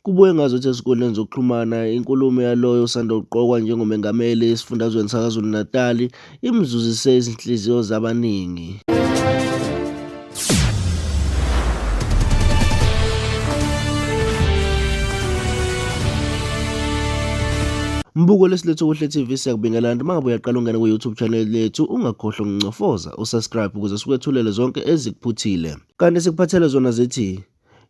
Kubuye ngazothi ezinkundleni zokuxhumana inkulumo yaloyo osanda kuqokwa njengomengameli esifundazweni saKwaZulu-Natali imzuzise izinhliziyo zabaningi. Mbuko lesilethu kuhle TV siyakubingelela nto mangabe uyaqala ungena ku-YouTube channel lethu ungakhohlwa ukuncofoza usubscribe ukuze sikwethulele zonke ezikuphuthile kanti sikuphathele zona zithi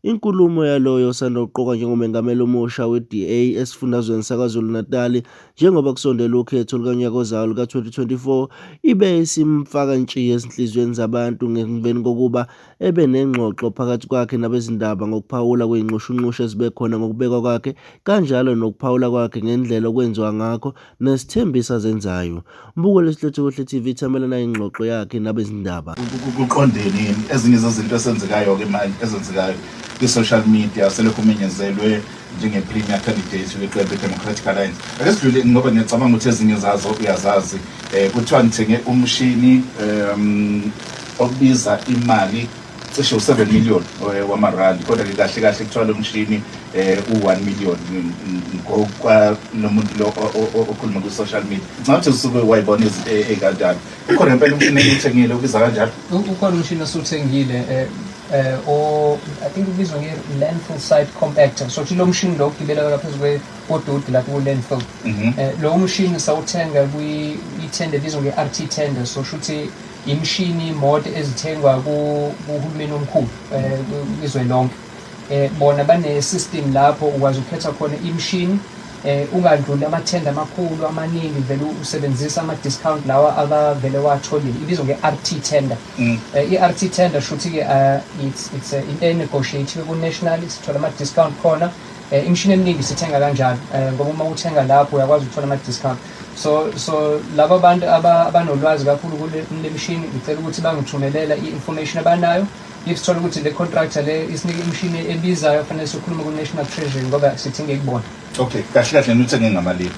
Inkulumo yaloyo osanda kuqokwa njengomengameli omusha we-DA esifundazweni saKwaZulu-Natali njengoba kusondela ukhetho lukanyaka ozayo luka-2024 ibe isimfaka ntshiyi ezinhliziyweni zabantu ngemveni kokuba ebe nengxoxo phakathi kwakhe nabezindaba ngokuphawula kwey'nxushunxushu ezibe khona ngokubekwa kwakhe kanjalo nokuphawula kwakhe ngendlela okwenziwa ngakho nesithembiso azenzayo. Mbuko lesihlothe kohle TV ithamelana ingxoxo yakhe nabezindaba. Kuqondeni yini ezinye zezinto esenzekayo-ke manje ezenzekayo kwi-social media selokhu umenyezelwe njenge-premier candidate weqembu i-democratic alliance ake sidlule ngoba ngiyacabanga ukuthi ezinye zazo uyazazi um kuthiwa ngithenge umshini um obiza imali cishe u-7 million eh, wamarandi kodwa-ke kahle kahle kuthiwa lo mshini um u-1 million ngokwalomuntu lo okhuluma kwi-social media ngicanga ukuthi usuke wayibona izinto e-, ey'kanjani ukhona ngempela umshini ewuthengile ubiza kanjalo ukhona umshini osuwuthengile um i think ubizwa nge-landfill site compactor so kuthi lo mshini lo ogibeleka ngaphezu kododi lapho ku-landfill um mhm. lowo mshini sawuthenga kwi-tender ebizwa nge-r t tender so shuthi imishini imoto ezithengwa kuhulumeni omkhulu um izwe lonke um bona bane-system lapho ukwazi ukukhetha khona imishini um ungandluli amathenda amakhulu amaningi vele usebenzisa ama-discount lawa abavele watholile ibizwa nge-r t tender um i-r t tender shuthi-ke um it's it's into enegotiathiwe ku-national sithola ama-discount khona um imishini eminingi sithenga kanjalo um ngoba uma uthenga lapho uyakwazi ukuthola ama-discount so so laba bantu abanolwazi kakhulu kule mishini ngicela ukuthi bangithumelela i-information abanayo if sithola ukuthi le contractor le isinike imishini ebizayo fanele sikhulume ku-national treasury ngoba sithinge kubona okay kahle kahle nuthenge ngamalini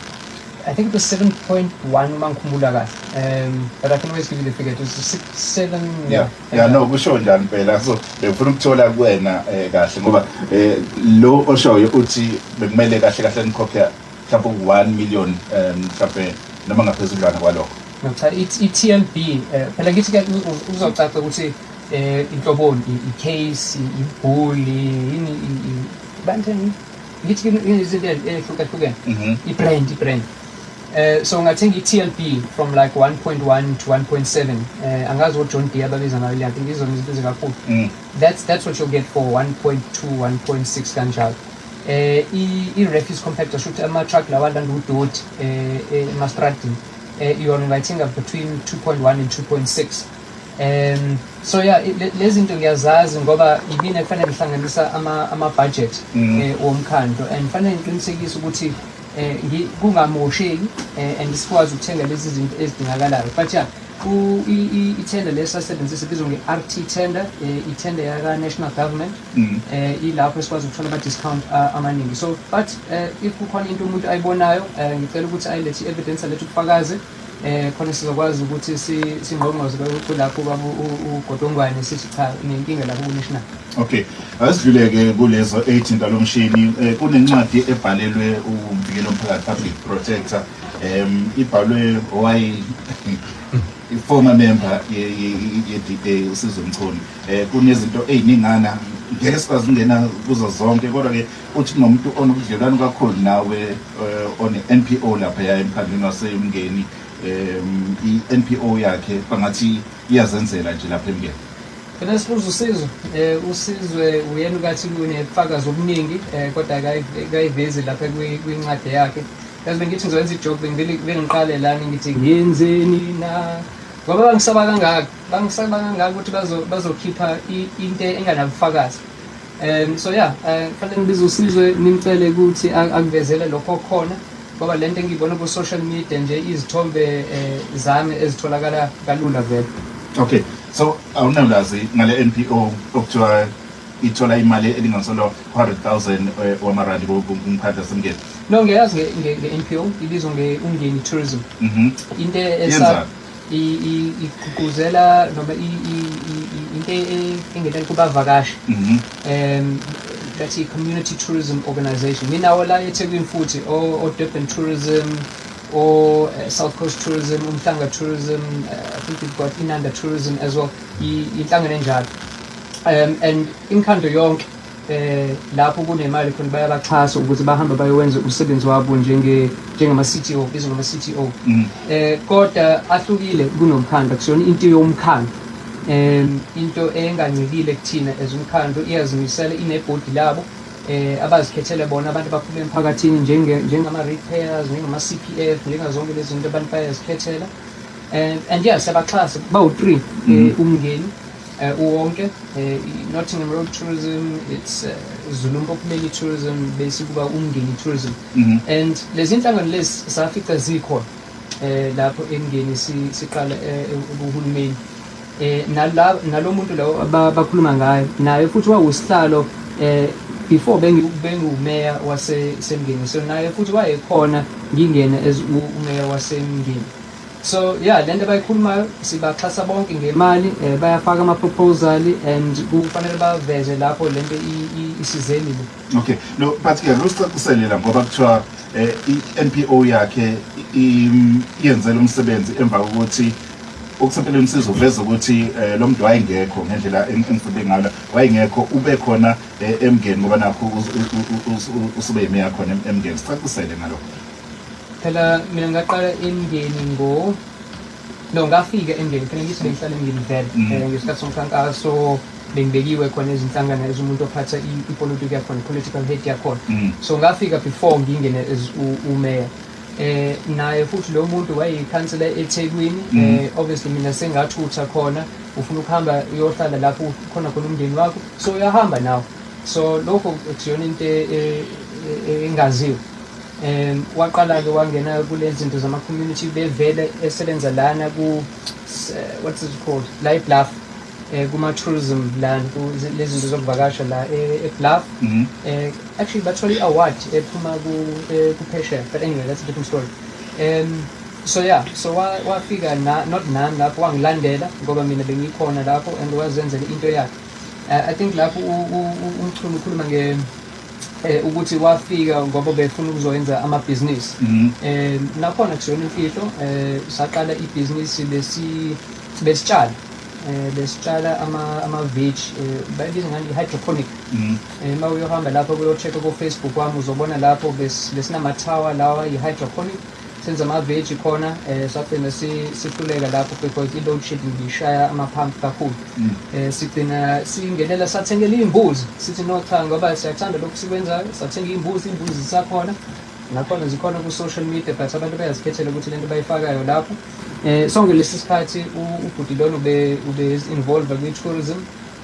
I think it was 7.1 uma ngikhumbula kahle um but I can always give you the figure it was 7 yeah yeah no kusho njani phela so ngifuna ukuthola kuwena eh, kahle ngoba eh, lo oshoyo uthi bekumele kahle kahle nikhokhe mhlawumbe oku-1 million um mhlawumbe noma ngaphezudlwana kwalokho cha i-tlb um eh, phela ngithi ke uzocaca ukuthi um inhloboni i-case ibhuli yini banteni ngithi izinto ehlukahlukene mhm. i-brand i-brand um so ngathenga i-tlb from like 1 point 1 to 1 point 7 um angazi ukuthi john deer babiza ngayo leyantho ngizona izinto ezikakhulu mm. that's what you'll get for 1 point 2 1 point 6 kanjalo eh i-refuse compactor shuthi ama-truck lawa alanda udoti eh, eh, emastradini eh, you are inviting up between 2.1 and 2.6 um so ya lezi zinto ngiyazazi ngoba yimina kufanele ngihlanganisa ama-budget mm. eh, womkhandlo and kufanele ngiqinisekise ukuthi eh, kungamosheki eh, and sikwazi ukuthenga lezi zinto ezidingakalayo but ya ithenda lesasebenzisa ibizwa nge-r t tender ithenda yaka-national government Mm. Eh ilapho esikwazi ukuthola ama discount uh, amaningi. So but uh, if kukhona into umuntu ayibonayo uh, ngicela ukuthi ayilethe evidence alethe ubufakazi eh khona sizokwazi ukuthi singqongqoze kulapho baba uGodongwane sithi cha nenkinga lapho kuNational Okay asidluleke kulezo 8 intalomshini eh, kunencwadi ebhalelwe uMvikelo Mphakathi Public Protector em ibhalwe owayi former member ye DA uSizwe Mchunu Eh kunezinto eziningana ngeke sikwazi ungena kuzo zonke kodwa ke uthi nomuntu onobudlelwano kakhulu nawe eh, one NPO lapha ya emkhandlwini waseyumngeni em i NPO yakhe bangathi iyazenzela nje lapha emngeni Phela sibuza usizo eh usizwe uyena ukathi kunefakazi obuningi eh kodwa kayivezi lapha kwincwadi yakhe yazi bengithi ngizokwenza ijob bengivele ngiqale lana ngithi ngenzeni na ngoba bangisaba kangaka bangisaba kangaka ukuthi bazokhipha into enganabufakazi um so ya eh, kufanele ngibize usizwe nimcele ukuthi akuvezele lokho khona ngoba le nto engiyibona ku-social media nje izithombe um zami ezitholakala kalula vele okay so awunalwazi ngale n p o okuthiwa ithola imali elinganiselwa 100,000 eh, wamarandi kumphathi wasemngeni no ngiyazi nge-npo ibizwa nge-ungeni tourism mhm. into igqugquzela noma into e, e, engenele kubavakashi mhm. um that's i-community tourism organization minawo la ethekwini futhi o-durban tourism or uh, South Coast Tourism, Umhlanga Tourism, uh, I think we've got Inanda Tourism as well, inhlangano enjalo. Um, and in Kando Yonke, eh lapho kunemali khona bayabaxhasa ukuthi bahambe bayowenza umsebenzi wabo njenge njengama CTO e izingama CTO e mm. eh kodwa ahlukile kunomkhandla kusona into yomkhandla em into engancikile kuthina as umkhandla iyazimisela inebhodi labo eh abazikhethele bona abantu baphuma emphakathini njenge njengama repairs njengama CPF njengazonke lezi zinto abantu bayazikhethela and and yes abaxhasa bawu 3 mm. eh, umngeni uh, uwonke uh, Nottingham Road Tourism it's uh, Zulumbo Kumeni Tourism bese kuba Umngeni Tourism mm -hmm. and lezi inhlangano lezi safica zikhona eh lapho emngeni siqala ebuhulumeni eh nala nalomuntu lawo bakhuluma ngayo naye futhi wawusihlalo eh before bengumeya wasemngeni so naye futhi wayekhona ngingena as umeya wasemngeni so yeah le nto abayikhulumayo sibaxhasa bonke ngemali um bayafaka ama-proposal and kufanele baveze lapho le nto isizeni le okay no but ke lusicaciselela ngoba kuthiwa eh, i-n p o yakhe iyenze lo msebenzi emva kokuthi ukusempeleni usizo uveza ukuthi eh, lo muntu wayengekho ngendlela engifunde ngayo wayengekho ube khona eh, emngeni ngoba nakho usube yimeya khona emngeni sicacisele ngalokho phela mina ngaqala emndeni ngo no ngafika emndeni phela ngithi bengihlala emndeni vele mm. eh, ngesikhathi somkhankaso bengibekiwe khona ezinhlangana as umuntu ophatha ipolitiki yakhona i-political head yakhona mm. so ngafika before ngingene as umeya eh naye futhi lo muntu wayeyikhansela eThekwini mm. eh obviously mina sengathutha khona ufuna ukuhamba uyohlala lapho khona khona umndeni wakho so uyahamba nawe so lokho kuyona into e, e, e, engaziwa um waqala-ke wangena kule zinto zama-community bevele esebenza lana ku what is it called la ebluff um kuma-tourism lana lezi zinto zokuvakasha la e, ebluff um actually bathola i-award ephuma e, kuphesheya but anyway that's a different story um so yeah so wafika na, not nami lapho wangilandela ngoba mina bengikhona lapho and wazenzela into yakhe uh, i think lapho umchunu ukhuluma nge eh, ukuthi wafika ngoba befuna ukuzoyenza amabhizinisi mhm. eh, nakhona kusona imfihlo eh, saqala ibhizinisi besitshala eh, besitshala ama-veg eh, bayibiza ngani i-hydroponic mhm. eh, uma uyohamba lapho kuyocheck ko-facebook wami uzobona lapho besinama-tower lawa i-hydroponic senza amaveji khona um sagcina sihluleka lapho because i-load shedding ngiyishaya amaphampu kakhulu um sigcina singenela sathengela iy'mbuzi sithi no cha ngoba siyakuthanda lokhu sikwenzayo sathenga iy'mbuzi iy'mbuzi zisakhona nakhona zikhona ku-social media but abantu bayazikhethela ukuthi lento bayifakayo lapho um sonke lesi sikhathi ubhuti lona ube-involve kwi-tourism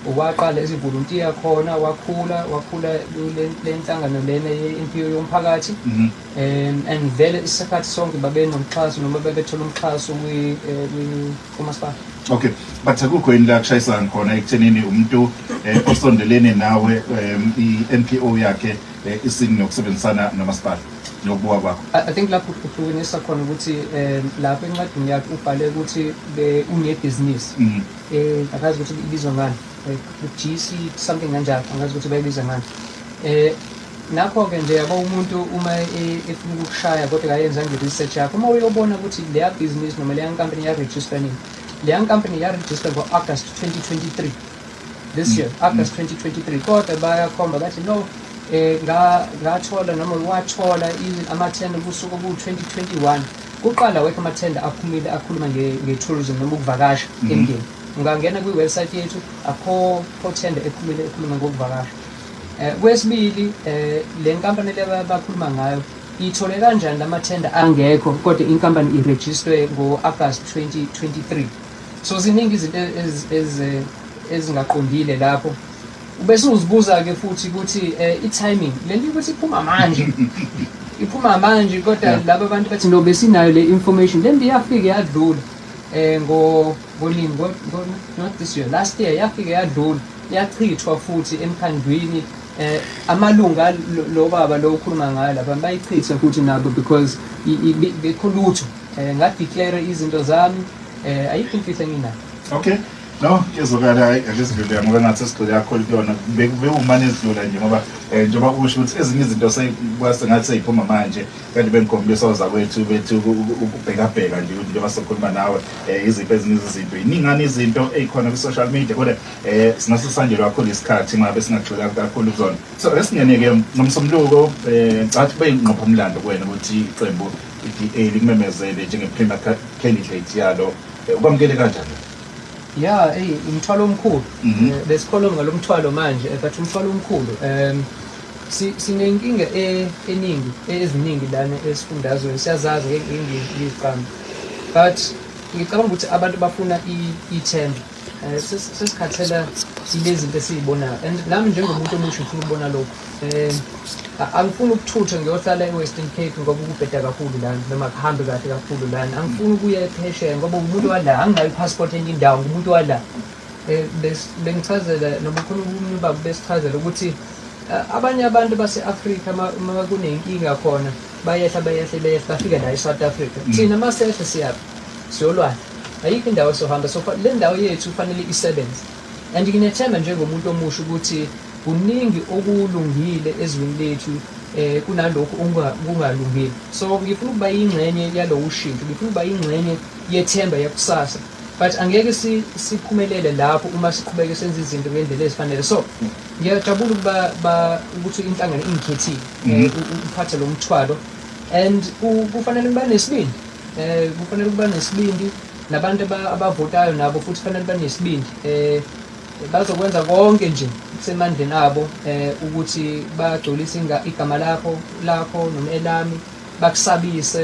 waqala izivolontiya khona wakhula wakhula le nhlangano lena ye-npo yomphakathi mhm. um and vele isikhathi sonke babenomxhaso noma bebethola umxhaso kumasipala eh, okay but akukho yini la kushayisana khona ekuthenini umuntu eh, osondelene nawe um i-n p o yakhe eh, isini nokusebenzisana nomasipala nokubuka kwakho i think lapho uhlukenisa khona ukuthi um lapho encwadini yakhe ubhale ukuthi unebhizinisi um mm. akazi ukuthi ibizwa ngani g c something kanjalo angazi ukuthi bayibiza ngani um Nakho-ke nje yabo umuntu uma e- e- efuna ukukushaya kodwa kayenzanga i-research yakho uma uyobona ukuthi leya bhizinisi noma leya nkampani yarejista nini leya nkampani yarejista ngo-agast 2023 this year mm. agast 2023 mm. kodwa bayakhomba bathi no um ngathola noma wathola amathenda kusuku obu-2021 kuqala wekho amathenda aphumile akhuluma nge-tourism noma ukuvakasha mm-hmm. emndeni ungangena kwi-website yethu akho thenda ephumile ekhuluma ngokuvakasha Eh, kwesibili eh, le nkampani le bakhuluma ngayo ithole kanjani la mathenda angekho kodwa inkampani irejistwe ngo-agasti 2023 so ziningi izinto ezingaqondile lapho bese uzibuza-ke futhi ukuthi um eh, i-timing le nto ukuthi iphuma manje iphuma manje kodwa laba bantu bathi no besinayo le information le nto iyafike yadlula um ngonini not this year last year yafike yadlula yachithwa futhi emkhandlwini eh amalunga lo baba lo ukhuluma ngayo lapha bayichithe futhi nabo because bekho lutho eh nga declare izinto zami eh ayikho imfihlo enginayo okay no kuyezokala hayi akizivile ngoba ngathi esigcile yakho kuyona bekubewumane ezidlula nje ngoba um njengoba usho ukuthi ezinye izinto kwase ngathi seyiphuma manje kanti bengikhombisa ozakwethu bethu ukubhekabheka nje ukuthi njengoba sokhuluma nawe um iziphi ezinye izizinto iningani izinto ey'khona kwi-social media kodwa um singase sisanjelwa kakhulu isikhathi ngabe singagxila kakhulu kuzona so esingeneke nomsombuluko um cathi kube yingqophamlando kuwena ukuthi iqembu i-d a likumemezele njenge-premier candidate yalo um ukwamukele kanjani ya eyi umthwalo omkhulu mhm. eh, besikholwa ngalo mthwalo manje eh, but umthwalo omkhulu um Sinenkinga e, eningi e, eziningi lana esifundazweni siyazazi ngeke ngiziqambe but ngicabanga ukuthi abantu bafuna ithemba um sesikhathela yilezinto esiyibonayo and nami njengomuntu omusha ngifuna ukubona lokhu um angifuni ukuthutha ngiyohlala e-western cape ngoba ukubheda kakhulu lana noma kuhambe kahle kakhulu lana angifuni ukuya ephesheya ngoba ngumuntu wala anginayo i-passport enye indawo ngumuntu wala Eh, bengichazela noma khona omunye ubaba besichazela ukuthi eh, abanye abantu base-afrika uma kunenkinga khona bayehla beyehle beyehle bafike nayo e-south africa mm. thina uma sehle siyaphi siyolwana ayikho indawo sohamba so le ndawo yethu kufanele isebenze and nginethemba njengomuntu omusha ukuthi kuningi okulungile ezweni lethu eh kunalokho kungalungile so ngifuna ukuba yingxenye yalowo ushintsho ngifuna ukuba yingxenye yethemba yakusasa but angeke siphumelele lapho uma siqhubeke senza izinto ngendlela ezifanele so ngiyajabula ukuba ukuthi inhlangano ingikhethile mhm. eh, uphathe lo mthwalo and kufanele ukuba nesibindi um kufanele ukuba nesibindi nabantu abavotayo nabo futhi kufanele banesibindi um bazokwenza konke nje kusemandleni abo um ukuthi bagcolise igama lakho lakho noma elami bakusabise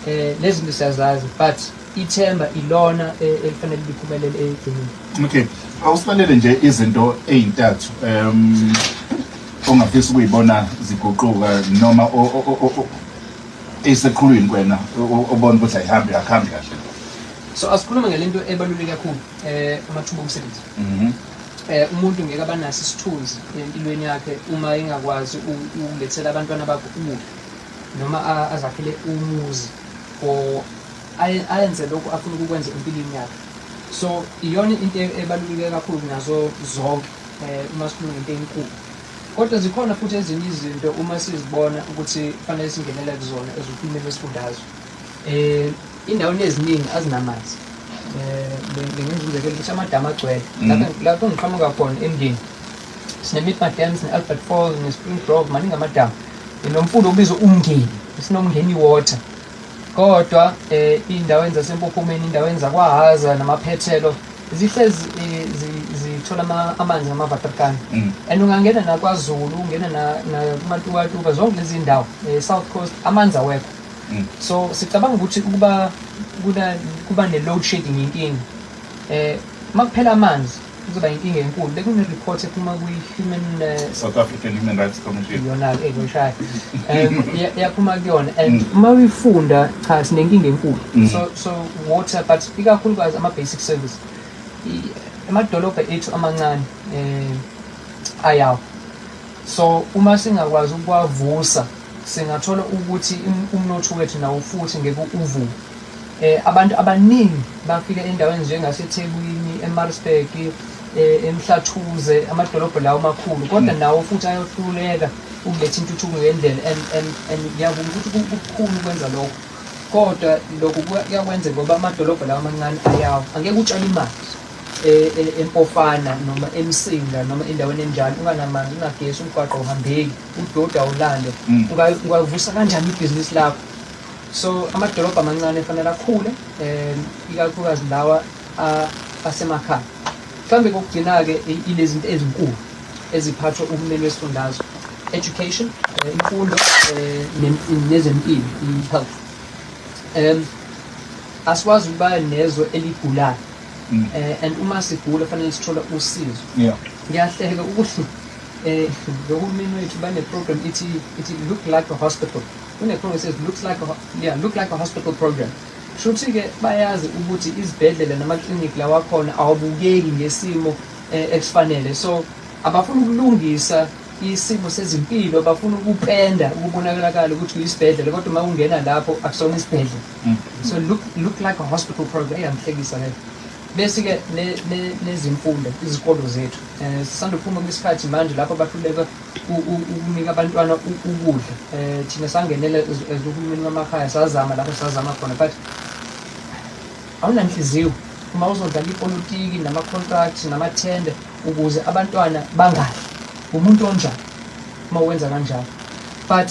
um lezi zinto siyazazi but ithemba ilona e, elifanele liphumelele egcineni okay awusibalele nje izinto ezintathu um ongafisa ukuyibona ziguquka noma eseqhulwini kwena obona ukuthi ayihambi akahambi kahle so asikhuluma ngelento ebaluleke kakhulu eh amathuba omsebenzi mhm eh umuntu ngeke abanaso isithunzi empilweni yakhe uma engakwazi ukulethela abantwana bakhe ukudla noma azakhele umuzi or aye ayenze lokhu afuna ukukwenza empilweni yakhe so iyona into ebaluleke kakhulu nazo zonke eh, uma sikhuluma ngento enkulu kodwa zikhona futhi ezinye izinto uma sizibona ukuthi kufanele singenele kuzona ezohulumeni wesifundazwe eh indawo eziningi azinamanzi eh bengenza umzekelo ukuthi amadamu agcwele mm. lapho lapho ngiqhamuka khona endini sinemidma dams ne-albert falls ne-spring grove maningi amadamu nomfula obizwa umngeni sinomngeni water kodwa eh indaweni zasempophomeni indaweni zakwahaza namaphethelo zihlezi eh, zi- zithola ama- amanzi ngamavatrikana Mm. and ungangena nakwazulu ungena na- nakumatuwatuba zonke lezi ndawo eh, south coast amanzi awekho Mm. so sicabanga ukuthi ukuba kuna- kuba ne-load shedding inkinga um makuphela amanzi kuzoba inkinga enkulu bekune report ephuma kwi human uh, South African Human Rights Commission yona ke ngoshaya um yaphuma kuyona and mm. uma uyifunda cha sinenkinga enkulu mm. so so water but ikakhulukazi ama basic service amadolobha ethu amancane um ayawo so uma singakwazi ukwavusa singathola ukuthi umnotho wethu nawo futhi ngeke uvuke Eh, abantu abaningi bafika endaweni njengaseThekwini, eMaritzburg, eh, eMhlathuze, amadolobho lawo amakhulu kodwa nawo futhi ayohluleka ukuletha intuthuko ngendlela and and and ngiyabona ukuthi ku- kubukhulu ukwenza lokho kodwa lokhu kuya- kuyakwenzeka ngoba amadolobho lawo amancane ayawo angeke utshale imali e- e- empofana noma emsinga noma endaweni enjalo unganamanzi ungagesi umgwaqo uhambeki udoda ulande Mm. Unga- ungavusa kanjani ibhizinisi lakho so amadolobha amancane efanele akhule um ikakhulukazi lawa asemakhaya mhlawumbe kokugcina-ke ilezinto ezinkulu eziphathwa uhulumeni wesifundazwe education eh, imfundo eh, nezempilo i-health um asikwazi ukuba nezwe eligulayo mm. eh, and uma sigula fanele sithola usizo ngiyahleka ukuthi um lohulumeni wethu baneprogram ithi ithi look like a hospital Kunekhuluma says looks like a, yeah, look like a hospital program. Shuthi ke bayazi ukuthi izibhedlela nama clinic lawa khona awabukeki ngesimo eh, esifanele. So abafuna ukulungisa isimo sezimpilo bafuna ukupenda ukubonakala ukuthi uyisibhedlela kodwa uma ungena lapho akusona isibhedlela mm. so look, look like a hospital program eyangihlekisa leyo bese-ke nezimfundo izikolo zethu um eh, sisandophuma kwisikhathi manje lapho abahluleka ukunika abantwana ukudla um thina sangenela as uhulumeni wamakhaya sazama lapho sazama khona but awunanhliziyo uma uzodlala ipolitiki nama-contract namathende ukuze abantwana bangadli umuntu onjani uma wenza kanjalo but